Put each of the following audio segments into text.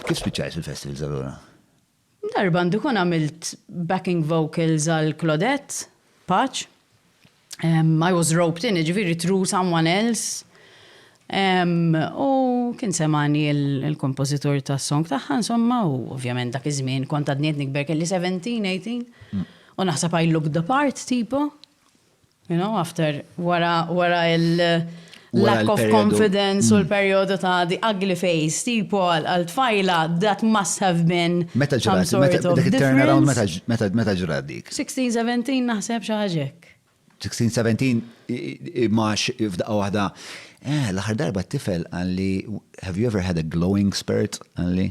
Kif spiċċajt fil-festivals allura? Darba għandu jkun għamilt backing vocals għal Claudette, Paċ. I was roped in, ġifieri through someone else. U kien semani il-kompożitur tas-song tagħha insomma u ovvjament dak iż-żmien kont għadni qed nikber kelli 17, 18. U naħseb I looked the part tipo. You know, after, wara, wara il- lack of confidence u mm. l-periodu ta' the ugly face, tipo għal-tfajla, that must have been meta ġrat, turnaround meta ġrat dik. 16-17 naħseb xaħġek. 16-17 max f'daqqa wahda. Eh, l-aħħar darba t-tifel għalli, have you ever had a glowing spirit għalli?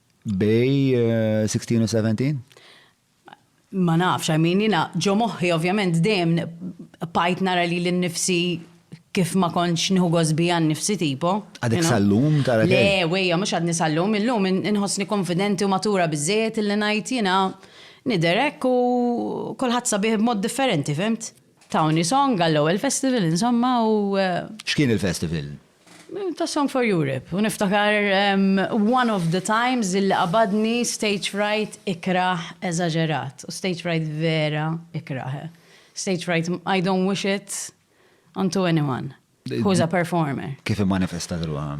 Bej 16 u 17? Ma nafx, I mean, jina ġo moħħi ovvjament dejjem pajt nara li l-nifsi kif ma konċ nħu gosbi għan nifsi tipo. Għadek sallum tara Le, wejja, mux għadni sallum, illum nħosni konfidenti u matura bizzejet illi najt jina niderek u kolħat sabiħ b'mod differenti, fimt? Tawni song għall-ewel festival, insomma, u. X'kien il-festival? Ta' Song for Europe u niftakar one of the times illi qabadni stage fright ikrah eżaġerat u stage fright vera ikrah. Stage fright I don't wish it on to anyone who is a performer. Kif immanifestat ruħha?